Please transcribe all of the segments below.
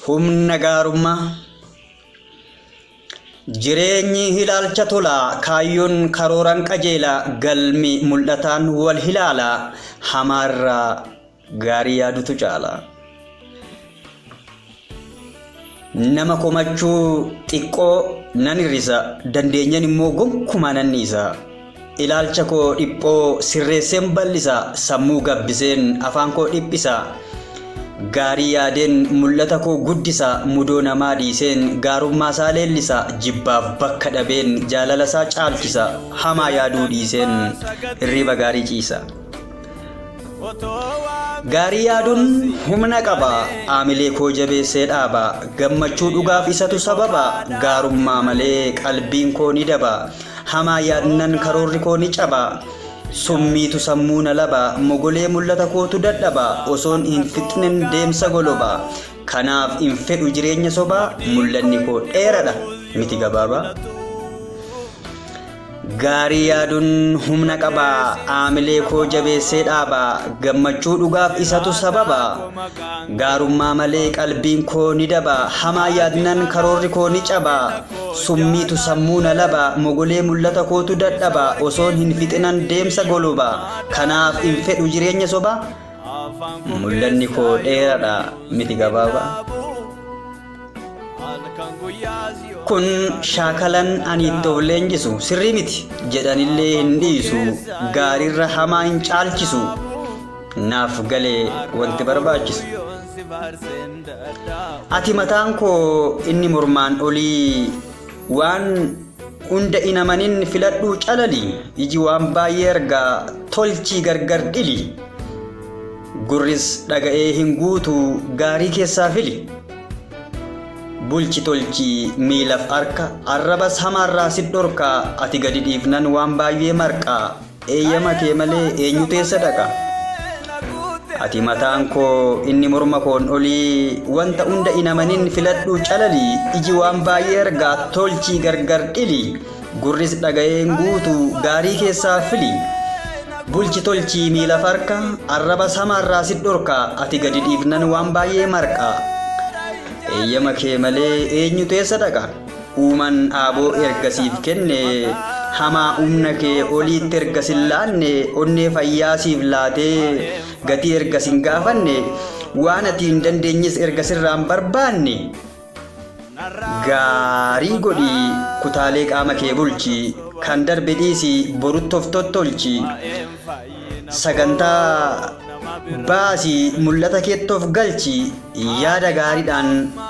Humna gaarummaa Jireenyi ilaalcha tolaa kaayyoon karooraan qajeela galmi mul'ataan wal hilaala hamaarraa gaarii yaadutu caala. Nama komachuu xiqqoo nan hir'isa, dandeenyan immoo gonkumaa nan dhiisa. Ilaalcha koo dhiphoo sirreesseen bal'isa, sammuu gabbiseen afaan koo dhiphisa. Gaarii yaadeen mul'ata koo guddisa, mudoo namaa dhiiseen gaarummaa isaa leellisa. Jibbaaf bakka dhabeen jaalala isaa caalchisa, hamaa yaaduu dhiiseen hirriiba gaarii ciisa. Gaarii yaaduun humna qaba, aamilee koo jabeessee dhaaba. Gammachuu dhugaaf isatu sababa, gaarummaa malee qalbiin koo ni daba. Hamaa yaadnan karoorri koo ni caba, summiitu sammuu na laba. Mogolee mul'ata kootu dadhaba, osoon hin fixnen deemsa goloba. Kanaaf hin fedhu jireenya sobaa, mul'anni koo dheeradha miti gabaaba. Gaarii yaadun humna qaba, aamilee koo jabeessee dhaaba, gammachuu dhugaaf isatu sababa. Gaarummaa malee qalbiin koo ni daba, hamaa yaadnan karoorri koo ni caba. Summiitu sammuu na laba, mogolee mul'ata kootu dadhaba, osoon hin fixinan deemsa goloba. Kanaaf hin fedhu jireenya soba, mul'anni koo dheeradha miti gabaaba. Kun shaakalan ani itti of leenjisu sirrii miti jedhanillee hin dhiisu gaariirra hamaa hin caalchisu naaf galee wanti barbaachisu. Ati mataan koo inni mormaan olii waan hunda hin amanin filadhuu calali iji waan baay'ee argaa tolchii gargar dhili. Gurris dhaga'ee hin guutu gaarii keessaa fili. Bulchi tolchi miilaf harka arrabas hamaarraa sit dhorka ati gadi dhiifnan waan baay'ee marqa eeyyama kee malee eenyutu eessa dhaqa. Ati mataan koo inni morma koon olii wanta hunda hin amanin filadhuu calali iji waan baay'ee argaa tolchii gargar dhili. Gurris dhaga'ee hin guutu gaarii keessaa fili. Bulchi tolchii miila farka arrabas hamaarraa si dhorka ati gadi dhiifnan waan baay'ee marqa. Eeyyama kee malee eenyutu eessa dhaqa? Uumaan aaboo erga siif kenne hamaa humna kee oliitti erga sin laanne onnee fayyaa siif laatee gatii erga sin gaafanne waan ati hin dandeenyes erga sirraan barbaanne Gaarii godhi kutaalee qaama kee bulchi kan darbe dhiisi borutti of tottolchi sagantaa baasi mul'ata keetti of galchi yaada gaariidhaan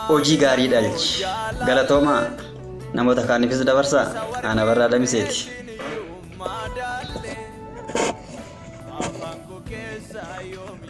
hojii gaarii dhalchi galatoomaa namoota kaaniifis dabarsa ana barraa damiseeti. Afaan koo keessa yoomi.